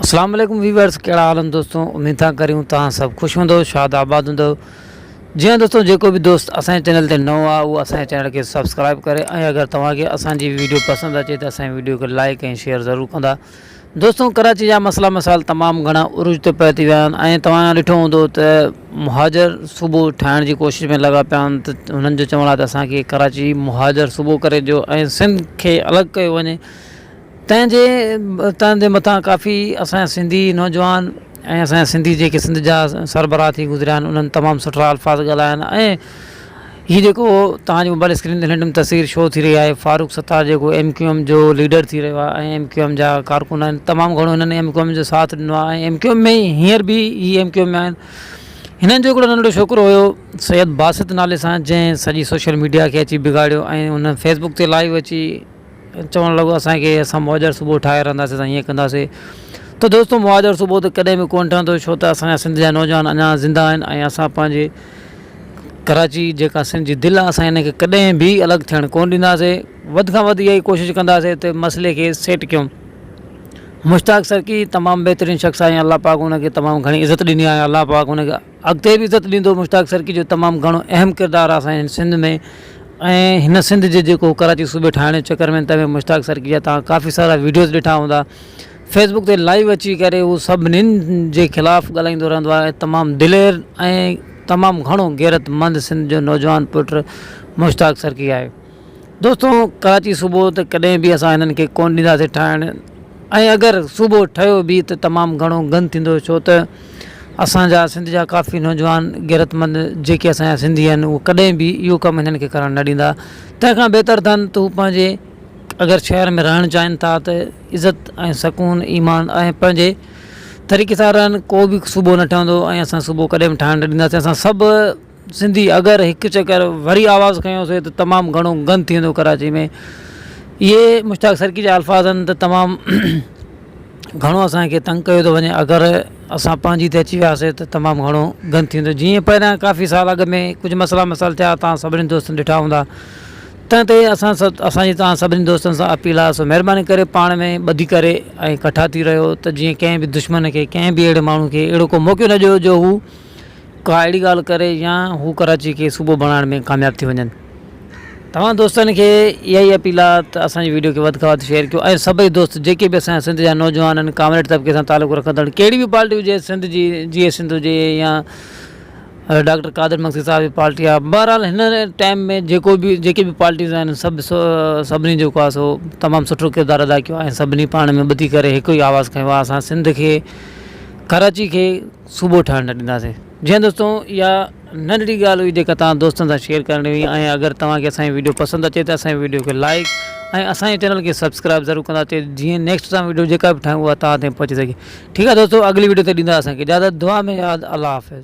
اسلام عليڪم ويورس ڪهڙا حال هن دوستو اميد ٿا ڪريون توهان سڀ خوش هوندو شاد آباد هوندو جي ها دوستو جيڪو به دوست اسان جي چينل تي نئون آهي اهو اسان جي چينل کي سبسڪرائب ڪري ۽ اگر توهان کي اسان جي ويڊيو پسند اچي ته اسان جي ويڊيو کي لائڪ ۽ شيئر ضرور ڪندا دوستو ڪراچي جا مسئلا مسائل تمام گهڻا عروج تي پهتي ويا آهن ۽ توهان ڏٺو هوندو ته مهاجر صوبو ٺاهڻ جي ڪوشش ۾ لڳا پيا آهن ته هنن جو چوڻ آهي ته اسان کي ڪراچي مهاجر صوبو ڪري ڏيو ۽ سنڌ کي الڳ ڪيو وڃي تنهن جي تنهن جي مٿان ڪافي اسان جا سنڌي نوجوان ۽ اسان جا سنڌي جيڪي سنڌ جا سربراهه ٿي گذريا آهن انهن تمام سٺا الفاظ ڳالهايا آهن ۽ هي جيڪو توهان جي موبائل اسڪرين تي رينڊم تصوير شو ٿي رهي آهي فاروق ستار جيڪو ايم ڪيو ايم جو ليڊر ٿي رهيو آهي ۽ ايم ڪيو ايم جا ڪارڪن آهن تمام گهڻو هنن ايم ڪيو ايم جو ساٿ ڏنو آهي ۽ ايم ڪيو ايم ۾ هينئر به هي ايم ڪيو ايم ۾ آهن هنن جو هڪڙو ننڍڙو ڇوڪرو هيو سيد باسط نالي سان جنهن سڄي سوشل ميڊيا کي اچي بگاڙيو ۽ هن فيسبوڪ تي لائيو اچي چوڻ لڳو اسان کي اسان مهاڄر صوبو ٺاهي رهنداسين اسان هيئن ڪنداسين ته دوستو مهاڄر صوبو ته ڪڏهن به ڪونه ٺهندو ڇو ته اسان جا سنڌ جا نوجوان اڃا زنده آهن ۽ اسان پنهنجي ڪراچي جيڪا سنڌ جي دل آهي اسان ان کي ڪڏهن به الڳ ٿيڻ ڪونه ڏينداسين وڌ کان وڌ اها ئي ڪوشش ڪنداسين ته مسئلي کي سيٽ ڪيون مشتاق سرڪي تمام بهترين شخص آهي الله پاڪ ان کي تمام گهڻي عزت ڏني آهي الله پاڪ ان کي اڳتي به عزت ڏيندو مشتاق سرڪي جو تمام گهڻو اهم ڪردار آ اسان جي سنڌ ۾ ۽ هن سنڌ جي جيڪو ڪراچي صوبي ٺاهڻ جي چڪر ۾ تنهن ۾ مشتاق سرڪي جا توهان ڪافي سارا ويڊيوز ڏٺا هوندا فيسبوڪ تي لائيو اچي ڪري هو سڀنين جي خلاف ڳالهائيندو رهندو آهي تمام دلير ۽ تمام گهڻو غيرت مند سنڌ جو نوجوان پٽ مشتاق سرڪي آهي دوستو ڪراچي صوبو ته ڪڏهن به اسان هنن کي ڪونه ڏينداسين ٺاهڻ ۽ اگر صوبو ٺهيو به ته تمام گهڻو گند ٿيندو ڇو ته اسان جا سنڌ جا ڪافي نوجوان غيرتمند جيڪي اسان جا سنڌي آهن هو ڪڏهن به اهو ڪم هنن کي ڪرڻ نه ڏيندا تنهن کان بهتر اٿن ته هو پنهنجي اگر شهر ۾ رهڻ چاهين ٿا ته عزت ۽ سڪون ايمان ۽ پنهنجي طريقي سان رهن ڪو به صوبو نه ٺهندو ۽ اسان صوبو ڪڏهن به ٺاهڻ نه ڏينداسين اسان سڀ سنڌي اگر هڪ چڪر وري آواز کنيوسي ته تمام گهڻو گند ٿي ويندو ڪراچي ۾ اهي مشتاق سرڪي جا الفاظ آهن ته تمام گهڻو اسان کي تنگ ڪيو ٿو وڃي اگر اسان پنهنجي تي اچي وياسي ته تمام گهڻو گند ٿي ويندو جيئن پهريان ڪافي سال اڳ ۾ ڪجهه مسئلا مسائل ٿيا تان سڀني دوستن ڏٺا هوندا تنهن تي اسان سڀ اسانجي تان سڀني دوستن سان اپيل آهي سو مهرباني ڪري پاڻ ۾ ٻڌي ڪري ۽ ڪٺا ٿي رهيو ته جيئن ڪنهن به دشمن کي ڪنهن به اهڙي ماڻهو کي اهڙو ڪو موقعو نه ڏيو جو هو ڪا اهڙي ڳالهه ڪري يا هو ڪراچي کي صوبو بڻائڻ ۾ ڪامياب ٿي وڃن توهان دوستن کي اها ئي اپيل آ ته اسان جي وڊيو کي وڌ کان وڌ شيئر ڪيو ۽ سڀئي دوست جيڪي به اسان جا سنڌ جا نوجوانن ڪامريڊ طبقي سان تعلق رکندڙ ڪهڙي به پارٽي هجي سنڌ جي جي اي سنڌ هجي يا ڊاڪٽر قادر مگسي صاحب جي پارٽي آ بهرحال هن ٽائيم ۾ جيڪو به جيڪي به پارٽيز آهن سڀ سڀني جيڪو آ سو تمام سٺو ڪردار ادا ڪيو آ ۽ سڀني پاڻ ۾ ٻڌي ڪري هڪ ئي آواز کنيو آ اسان سنڌ کي ڪراچي کي صوبو ٺاهڻ نه ڏينداسين. جي ھان دوستو اھا ننڍڙي ڳالھ ھئي جيڪا توھان دوستن سان شيئر ڪرڻي ھئي ۽ اگر توھان کي اسان جي ويڊيو پسند اچي ته اسان جي ويڊيو کي لائيڪ ۽ اسان جي چينل کي سبسڪرائيب ضرور ڪندا ته جيئن نيڪسٽ اسان ويڊيو جيڪا به ٺاھيون اھا توھان تائين پھچي سگھي ٺيڪ آ دوستو اڳلي ويڊيو تائين ڏيندا اسان کي اجازت دعا ۾ ياد الله حافظ.